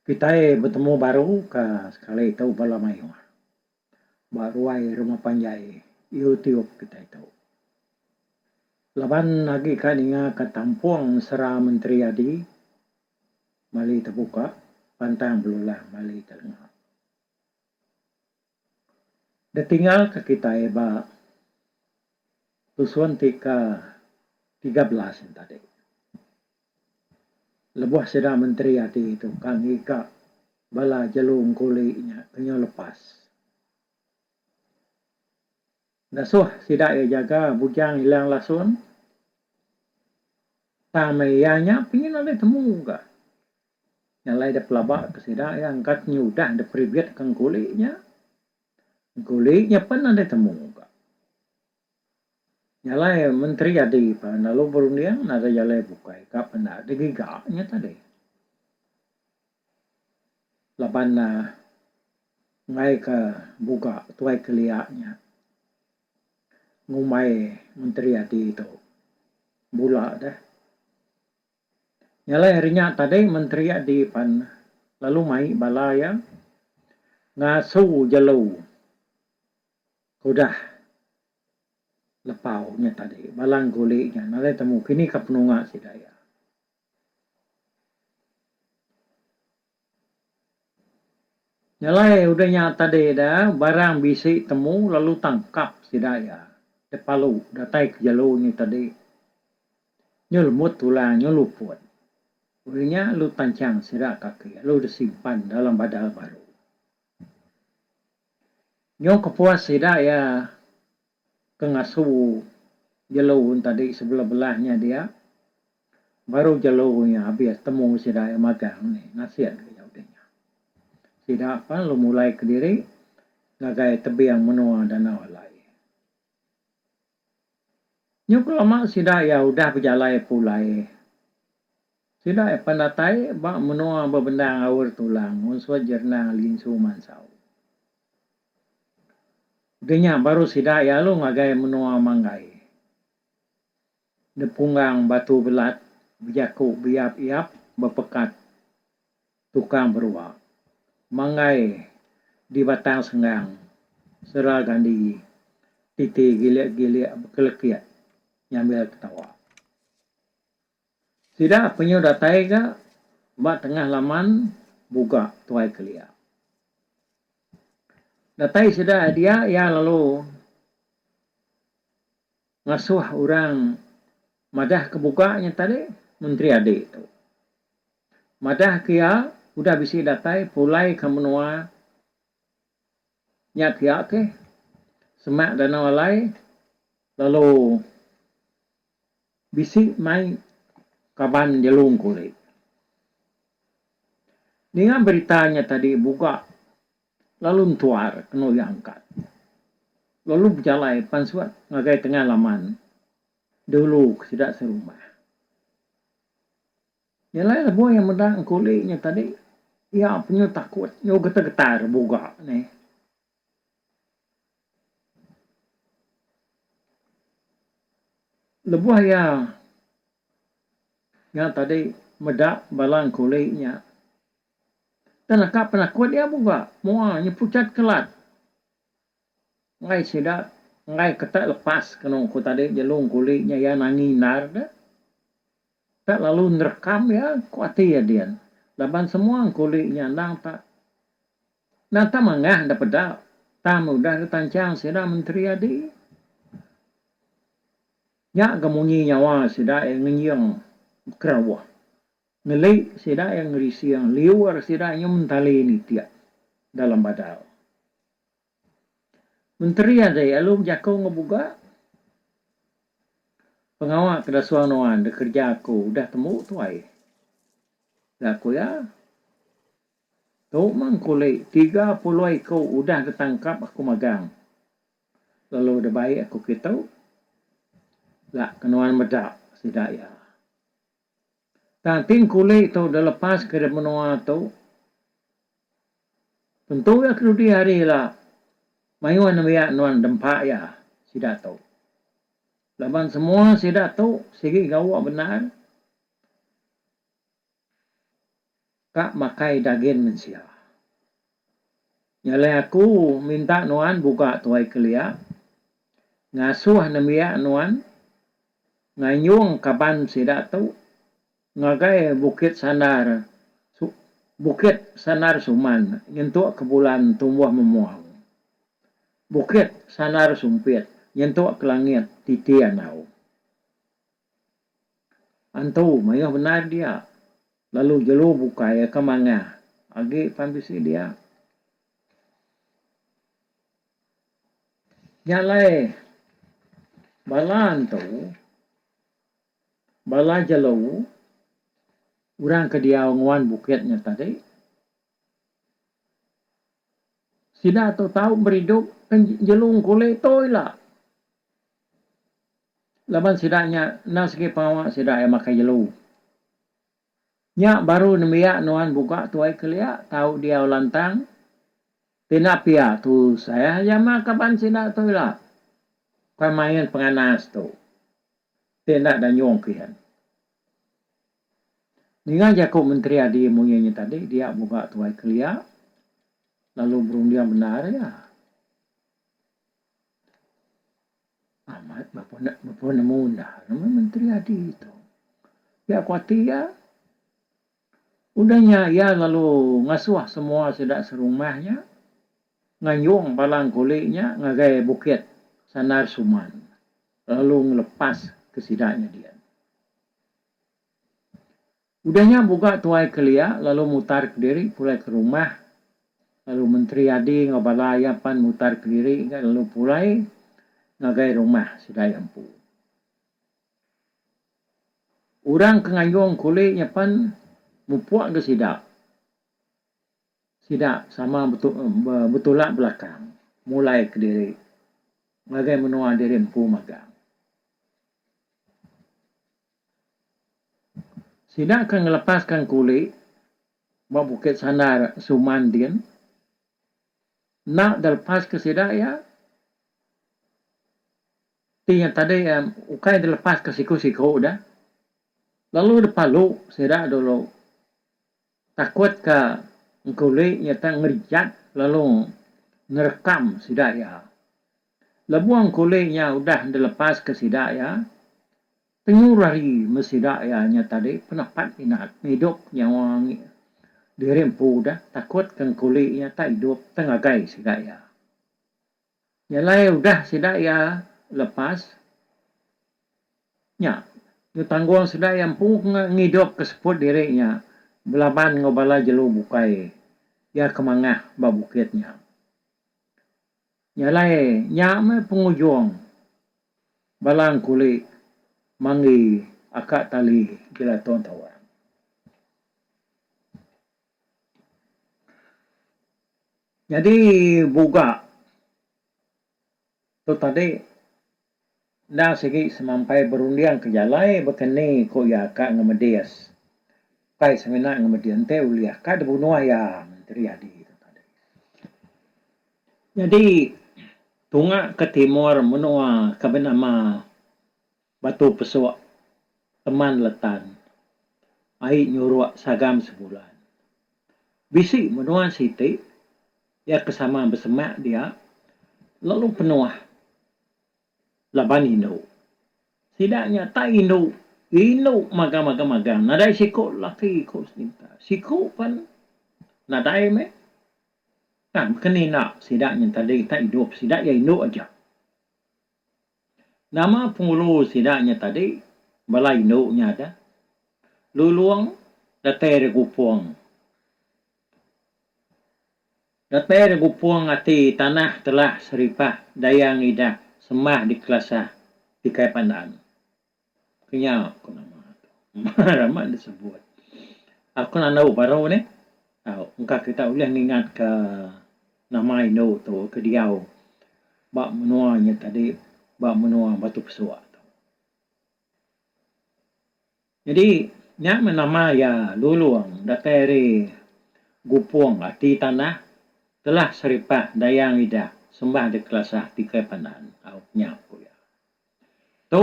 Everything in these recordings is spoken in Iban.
Kitai betemu baru ka sekali tu bala mayuh ba ruai rumah panjai YouTube kitai tu. Laban agi ka ninga ka tampung sera menteri adi mali tebuka pantang belulang mali telenga. Ditinggalka kitai ba tusun ti ke tiga belas nya tadi lebuh sida menteri ati tu ka ngiga bala jelu engkuli nya ke nyau lepas ngasuh sida iya jaga Bujang Ilang Lasun tang meh iya nya pengin alai temu ka. Nya alai dep pelaba ke sida iya angkat nyudah dep ribit ke engkuli nya. Engkuli nya pen nadai temu ka. Nya alai menteri adi pa lalu berunding nadai jalai bukai ka pen enda digiga nya tadi. Laban uhh enggai ke buga Tuai Kelia nya ngumbai menteri adi tu bula deh. Nya alai hari nya tadi menteri agi pan lalu mai bala iya ngasu jelu ke udah lepau nya tadi bala engkuli nya nadai temu kini ka penunga sida iya. Jalai udah nya tadi da, barang bisi temu lalu tangkap sida iya. Da palu datai ke jelu nya tadi. Nyu lembut tulang, nyu luput. Udah nya lu tanchang sida ka aki lalu da simpan dalam badal baru. Nyu kepuas sida iya. ke ngasu jelu entadi sebelah-belah nya dia baru jelu nya abis temu sida iya magang ni nasik dulu iya udah nya sida pan lu mulai kediri ngagai tebing menua danau alai nyu ke lama sida iya udah bejalai pulai sida iya pan datai ba menua bebendang Aur Tulang onsoi Jernang Linsu Mansau. Deh nya baru sida iya alu ngagai menua manggai. Depunggang batu belat bejaku beyap iyap bepekat tukang berua. Manggai di batang senggang sera gandi titi gilik gilik bekelekit nyambil ketawa. Sida penyu datai ga ba tengah laman buga tuai kelia. Datai sida ari dia iya lalu ngasuh orang madah ke buga nya tadi Menteri Adi tu. Madah ke iya udah bisi datai pulai ke menua nya ke iya ke semak danau alai lalu Bisi mai kaban Jelung Kulit. Ninga berita nya tadi buga lalu entuar kena uya angkat. Lalu bejalai pansut ngagai tengah laman dulu ke sida serumah. Jalai lebuh iya meda engkuli nya tadi iya punya takut enggau getar-getar buga neh. Lebuh iya nya tadi meda bala engkuli nya tang naka penakut iya buka mua nyepuchat kelat enggai sida enggai keta lepas kenu ku tadi jelu engkuli nya iya nangi endar deh. Enda lalu nerekam iya ku ati iya din laban semua engkuli nya endang tak nata mangah enda peda tang udah ditancang sida menteri adi nya ga munyi nyawa sida iya ngenjing bekerauh ngeli sida iya ngerising liur sida nyu mentali nitik dalam badal. Menteri agi alu bejaku enggau buga pengawa ke disuang nuan da kerja aku udah tembu tuai. Ga ku iya, tu mah engku ulih tiga puluh iku udah ditangkap aku magang lalu da bai aku kitu ga ke nuan meda sida iya. Tang ti engkuli tu dilepas ke menua tu, tentu iya ke dudi hari ila mayuh nembiak nuan dempa iya sida tu. Laban semua sida tu sigi gawa bendar. Ka makai dagin mensia. Nya alai aku minta nuan buka tuai kelia, ngasuh nembiak nuan nganyung kaban sida tu ngagai Bukit Sandar Bukit Sandar Suman nyentuk ke bulan tumbuh memuang, Bukit Sandar Sumpit nyentuk ke langit titi andau. Antu mayuh bendar dia, lalu jelu bukai ka mangah agi pan bisi dia. Nya alai bala antu, bala jelu orang ke diau nguan bukit nya tadi. Sida tu tau beridup ke jelu engkule tu ila. Laban sida nya enda sigi pengawa sida iya makai jelu. Nya baru nembiak nuan buka tuai kelia tau diau lantang. Ti enda pia tusah aja meh kaban sida tu ila. Kai main penganas tu. Ti enda danyung kian. Ninga jaku Menteri Adi Muie nya tadi dia buka Tuai Kelia lalu berunding bendar iya. Amat bepa nemu enda ngagai Menteri Adi tu. Pia ku ati iya. Udah nya iya lalu ngasuh semua sida serumah nya nganjung bala engkuli nya ngagai Bukit Sandar Suman lalu ngelepas ke sida nyadi. Udah nya Buga tuai kelia lalu mutar kediri pulai ke rumah lalu menteri adi enggau bala iya pan mutar kediri ga lalu pulai ngagai rumah sida iya empu. Orang ke ngayung kuli nya pan mupuk ga sida. Sida sama betulak belakang mulai kediri ngagai menua diri empu magang. Sida ke ngelepaska kuli ba Bukit Sandar Suman din enda dilepaska sida iya ti iya tadi ukai dilepaska siku-siku deh lalu dipalu sida dulu. Takut ka engkuli iya tang ngejat lalu ngerekam sida iya. Lebuh engkuli nya udah dilepaska sida iya, tengu rari meh sida iya nya tadi penapat inat meh idup nyawa diri empu deh takut ka engkuli nya tak idup tang ngagai sida iya. Nya alai udah sida iya lepas nya tu tanggung sida iya empu ngidup ke seput diri nya belaban enggau bala jelu bukai iya ke mangah ba bukit nya. Nya alai nya meh pengujung bala engkuli manggi aka tali Gelaton Tawang. Nyadi buga tu tadi enda sigi semampai berunding ke jalai baka ni ko iya ka ngan medis. Kai semina ngan medis enti ulih ka dibunuh iya menteri adi tu tadi. Nyadi tunga ke timur menua ke benama. Batu pesuk teman letan. Ai nyuruk sagam sebulan. Bisi menua siti iya ke sama besemak dia lalu penuh laban indu. Sida nya tak indu, indu magang magang magang nadai siku laki ku seminta. Siku pen nadai meh. Kan beken inda sida nya tadi tak idup sida iya indu aja. Nama pengulu sida nya tadi bala indu nya ada lulung datai ari gupung datai ari gupung ati tanah telah seripah dayang idah sembah dikelasah ti kai pandaan. Kenyau aku nama tu. Mar amat enda sebut. Aku enda nau baru nih. Au, engka kita ulih ngingatka nama indu tu ke diau ba menua nya tadi, ba menua Batu Pesok tu. Nyadi, nya meh nama iya Lulong datai ari Gupong, ati tanah, telah seripah dayang idah sembah dikelasah tikai pandan. Au, kenyau ku iya. Tu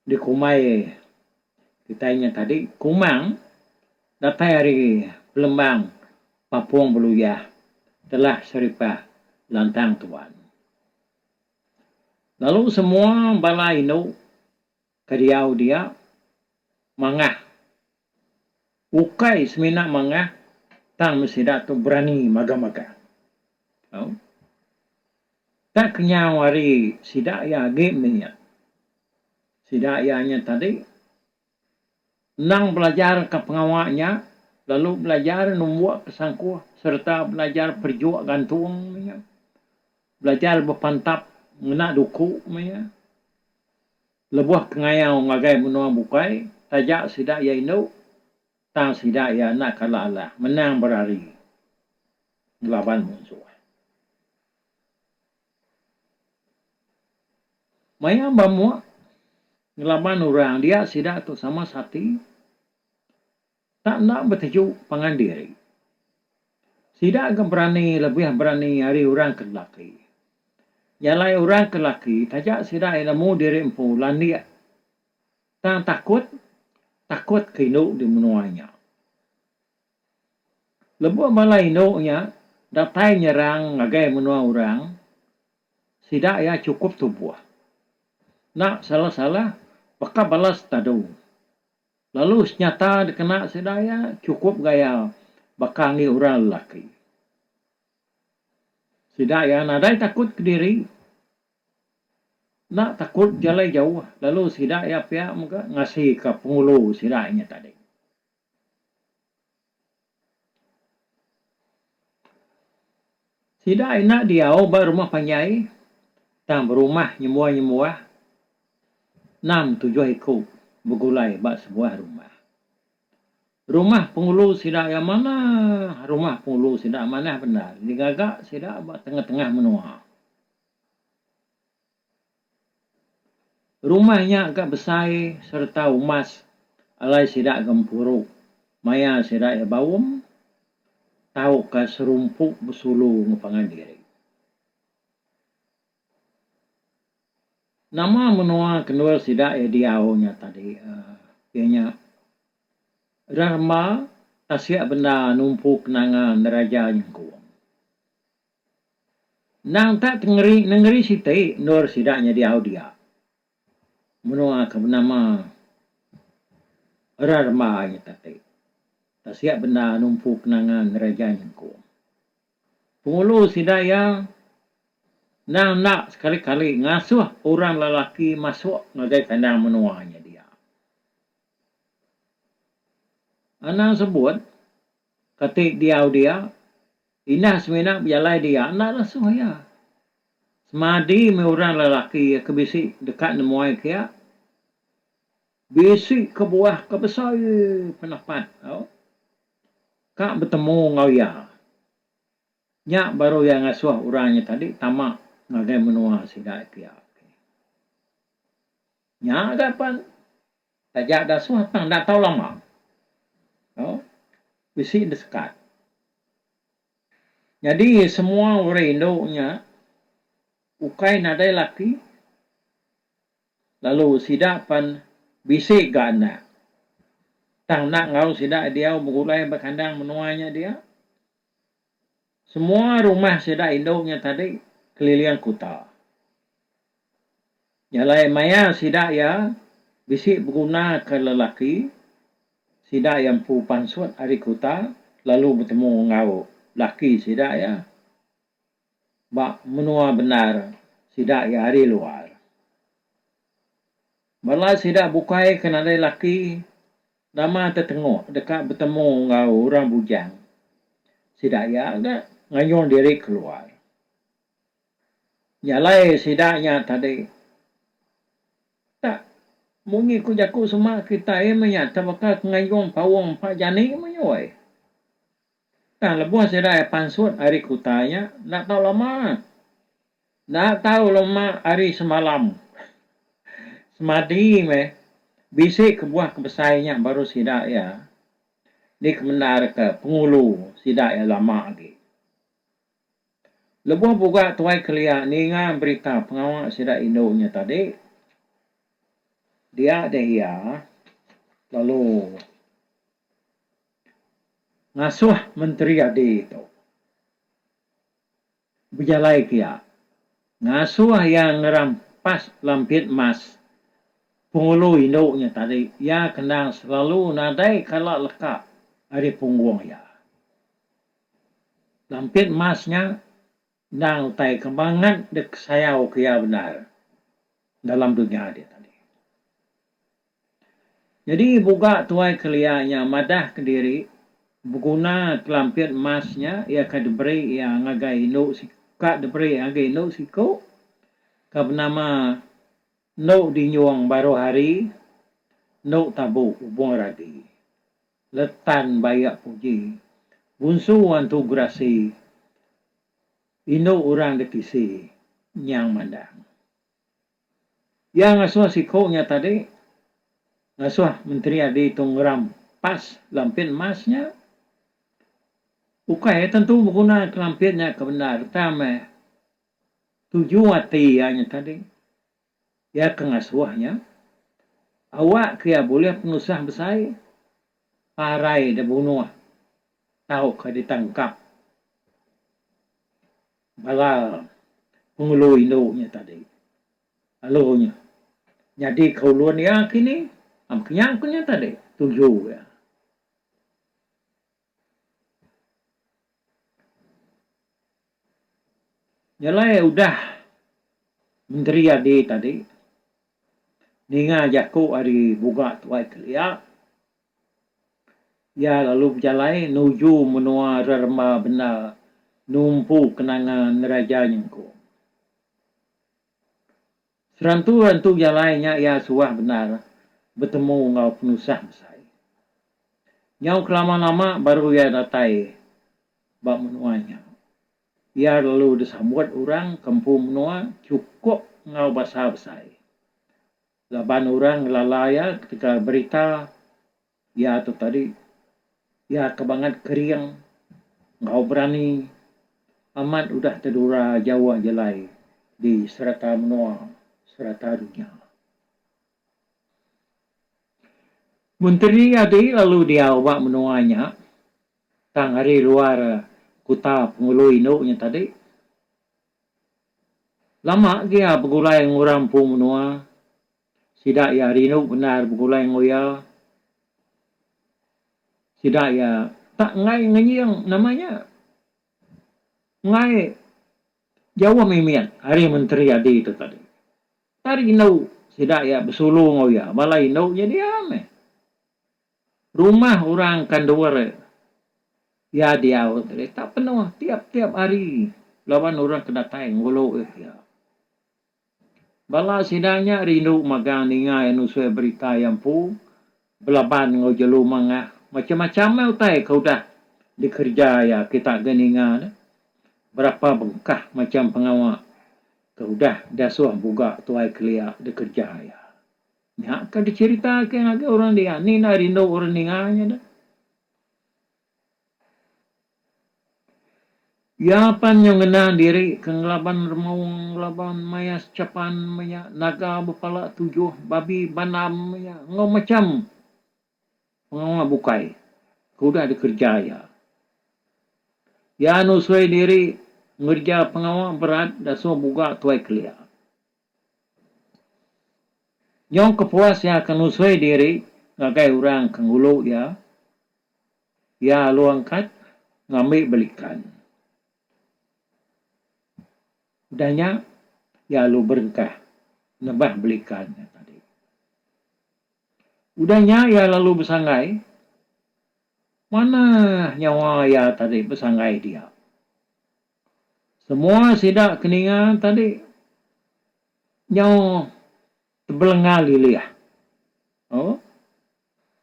dikumbai kitai nya tadi kumang datai ari pelembang Papong Beluyah telah seripah lantang tuan. Lalu semua bala indu ke diau dia mangah. Ukai semina mangah tang meh sida tu berani maga-maga. Au. Ka kenyau ari sida iya agi meh iya. Sida iya nya tadi endang belajarka pengawa nya lalu belajar numbuk ke sangkuh sereta belajar perejuk gantung meh iya. Belajar bepantap ngena duku meh iya. Lebuh kengayau ngagai menua bukai, taja sida iya indu, tang sida iya enda kala alah menang berari ngelaban munsuh. Maya ba mua ngelaban orang dia sida tu sama sati, Enda enda beteju pangan diri. Sida ga berani lebih berani ari orang ke lelaki. Iya alai orang ke lelaki taja sida iya nemu diri empu landik tang takut takut ke indu di menua nya. Lebuh bala indu nya datai nyerang ngagai menua orang sida iya chukup tubuh. Enda salah salah baka bala setadu. Lalu senyata dikena sida iya chukup gaya baka enggi orang lelaki. Sida iya nadai takut kediri, enda takut bejalai jauh lalu sida iya pia mega ngasika pengulu sida inya tadi. Sida enda diau ba rumah panjai tang berumah nyembuah-nyembuah enam tujuh iku begulai ba sebuah rumah. Rumah pengulu sida iya manah rumah pengulu sida manah bendar digaga sida ba tengah-tengah menua. Rumah nya ga besai sereta umas alai sida gempuru maya sida iya baum tauka serumpu besulu enggau pangan diri. Nama menua kenul sida iya diau nya tadi uhh iya nya reremba tasik benda numpu kenangan diraja nyengkung. Endang tak tengeri nengeri siti endur sida nyadi au dia. Menua ke benama Rarmba nyata ti tasik bendar numpu kenangan ngereja nyengkung. Pengulu sida iya endang enda sekali-kali ngasuh orang lelaki masuk ngagai kandang menua nya dia. Anang sebut. Kati diau dia, indah semina bejalai dia enda lesoh iya. Semadi meh orang lelaki iya ke bisi deka nemuai ke iya. Bisi kebuah ke besai penepat tau ka betemu enggau iya. Nya baru iya ngasoh orang nya tadi tama ngagai menua sida ke iya. Nya ga pan. Taja ga suah tang enda tau lama. Au. Bisi enda sekat. Nyadi semua orang indu nya ukai nadai laki lalu sida pan bisi ga anak. Tang enda enggau sida diau begulai ba kandang menua nya dia. Semua rumah sida indu nya tadi keliling kuta. Jalai maya sida iya bisi begunaka lelaki sida iya empu pansut ari kuta lalu betemu enggau laki sida iya ba menua bendar sida iya ari luar. Bala sida bukai ke nadai laki. Nama Tetengok deka betemu enggau orang bujang sida iya ga ngayun diri keluar. Jalai sida nya tadi tak munyi ku jaku sema kitai meh nya tebaka ke ngayun paung empa jani meh nya wei. Tang lebuh sida iya pansut ari kuta iya enda tau lama. Enda tau lama ari semalam. Semadi meh bisi kebuah ke besai nya baru sida iya dikemendarka pengulu sida iya lama agi. Lebuh buga Tuai Kelia ninga berita pengawa sida indu nya tadi, dia deh iya lalu. ngasuh menteri adi tu bejalai kia ngasuh iya ngerampas lampit emas pengulu indu nya tadi iya kendang selalu nadai kala leka ari punggung iya lampit emas nya. Endang utai ke mangat dikesayauka iya bendar dalam dunya diatu agi. Nyadi buga tuai kelia nya madahka diri beguna kelampit emas nya iya ke diberi iya ngagai indu ka diberi ngagai indu siku ke benama Endu Dinyung Baruhari, Endu Tabu Ubung Ragi. Letan bayak puji. Bunsu wan tu gerasi. Indu urang da tisi. Nyang mandang. Iya ngasuh siku nya tadi. Ngasuh menteri adi tu ngeram pas lampit emas nya. Ukai tentu beguna ke lampit nya ke bendar. Tang meh. Tuju ati iya nya tadi. Iya ke ngasuh nya, Awak ke iya bulih penusah besai, parai dibunuh tauka ditangkap bala pengulu indu nya tadi. Lalu nya nyadi ke ulun iya kini. Am kenyang ku nya tadi tuju iya. Nyelai udah menteri andi tadi ninga jaku ari bunga tuai kelia iya lalu bejalai nuju menua reremba bendar numpu kenangan ngereja nyengkung. Serantu-rantu jalai nya iya suah bendar betemu enggau penusah besai. Nyau kelama-lama baru iya datai ba menua nya. Iya lalu disambut orang ke empu menua chukup enggau basa besai. Laban orang ngelala iya ketegal berita Iya tu tadi, iya ke bangat kering enggau berani amat udah tedura jauh jelai di sereta menua sereta dunya. Menteri iya ti lalu diau ba menua nya tang ari luar kuta pengulu indu nya tadi. Lama agi iya begulai enggau orang empu menua. Sida iya rindu bendar begulai enggau iya. Sida iya tak enggai ngenying nama nya enggai jauh mimit ari menteri adi tu tadi. Tak rindu sida iya besulu enggau iya bala indu nya diau meh. Rumah orang kandur iya diau tu tadi tak penuh tiap-tiap hari laban orang ke datai ngulu iya. Bala sida nya rindu mega ninga iya nusui berita iya empu belaban enggau jelu mangah. Macam-macam meh utai ke udah dikereja iya kita ke ninga ne. Berapa bengkah macam pengawa ke udah diasuh buga tuai kelia dikereja iya. Nya ke dicheritake ngagai orang dian. Ni enda rindu orang ninga inya deh. Iya pan nyau ngena diri ke ngelaban remung ngelaban maya sechapan maya naga bepala tujuh babi banam maya enggau macham pengawa bukai ke udah dikereja iya. Iya nusui diri ngereja pengawa berat dasuh buga tuai kelia. Nyau kepuas iya ke nusui diri ngagai orang ke ngulu iya, iya alu angkat ngambi belikan. Udah nya, iya alu berengkah nebah belikan iya tadi. Udah nya iya lalu besanggai, manah nyawa iya tadi besanggai diak. Semua sida ke ninga tadi nyau tebelenga lilih. Au.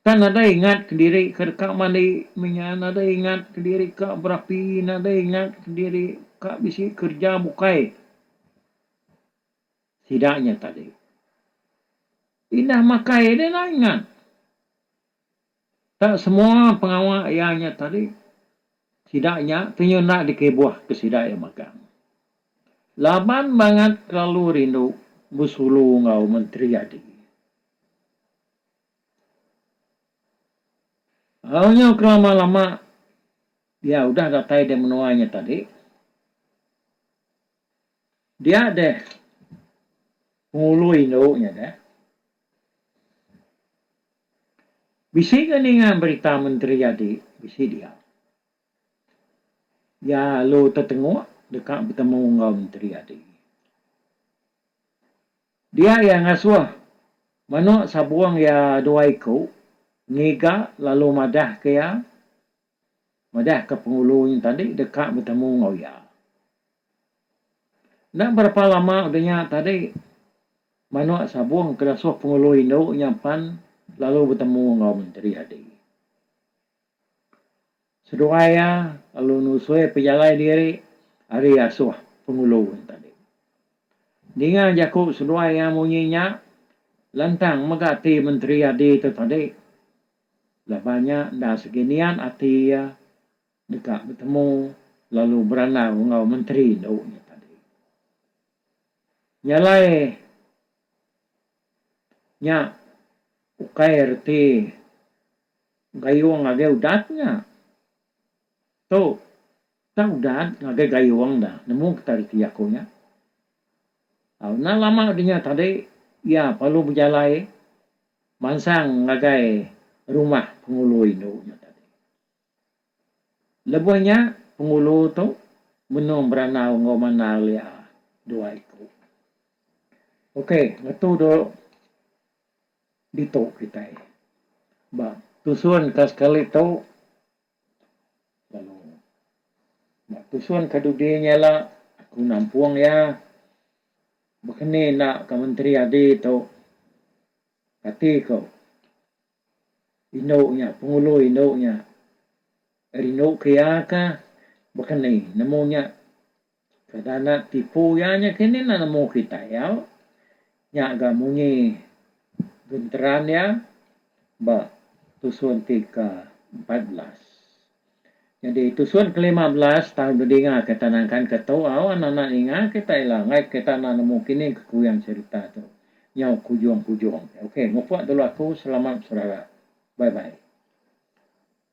Kan nadai ingatka diri ke deka mandi mih nya, nadai ingatka diri ka berapi, nadai ingatka diri ka bisi kerja bukai sida nya tadi. Indah makai deh enda ingat. Tang semua pengawa iya nya tadi, sida nya ti nyunak dikibuh ke sida iya magang. Laban mangat kelalu rindu besulu enggau menteri agi. Au nyau kelama-lama iya udah datai di menua nya tadi. Dia deh pengulu indu nya deh. Bisi ke ninga berita menteri jadi bisi dia. Iya alu tetenguk deka betemu enggau menteri adi. Dia iya ngasuh manuk sabung iya dua iku ngiga lalu madahka iya Madahka Penghulu nya tadi deka betemu enggau iya. Enda berapa lama udah nya tadi manuk sabung ke disuh Penghulu indu nya pan lalu betemu enggau Menteri Hadi. Seduai iya lalu nusui pejalai diri ari asuh Penghulu nya tadi. Ninga jaku seduai iya munyi nya lantang mega ati Menteri Hadi tu tadi. Laban nya enda sigi niat ati iya deka betemu lalu berandau enggau menteri endu nya tadi. Nya alai nya ukai reti gayung ngagai udat nya. Tu tang udat ngagai gayung dah nemu kita reti jaku nya. Au enda lama deh nya tadi iya parlu bejalai. Mansang ngagai rumah pengulu indu nya tadi. Lebuh nya pengulu tu menung berandau enggau mandal iya dua iku. Okey ngetu dulu ditu kitai ba tusun ka sekali tu. Lalu ba tusun ke dudi nya ila aku nampung iya baka ni enda ka menteri adi tu kati ko indu nya pengulu indu nya rindu ke iya ka baka ni nemu nya. Kada anak tipu iya nya kini enda nemu kitai au. Nya ga munyi genteran iya ba tusun ti ke empat belas. Nyadi tusun ke lima belas tang bedinga ke tanah engkan ke tu au anak-anak ninga kitai ila ngait kita enda nemu kini ke kuyang serita tu. Nyau kujung-kujung. Okey ngupuk dulu aku selamat beserara. Bye bye.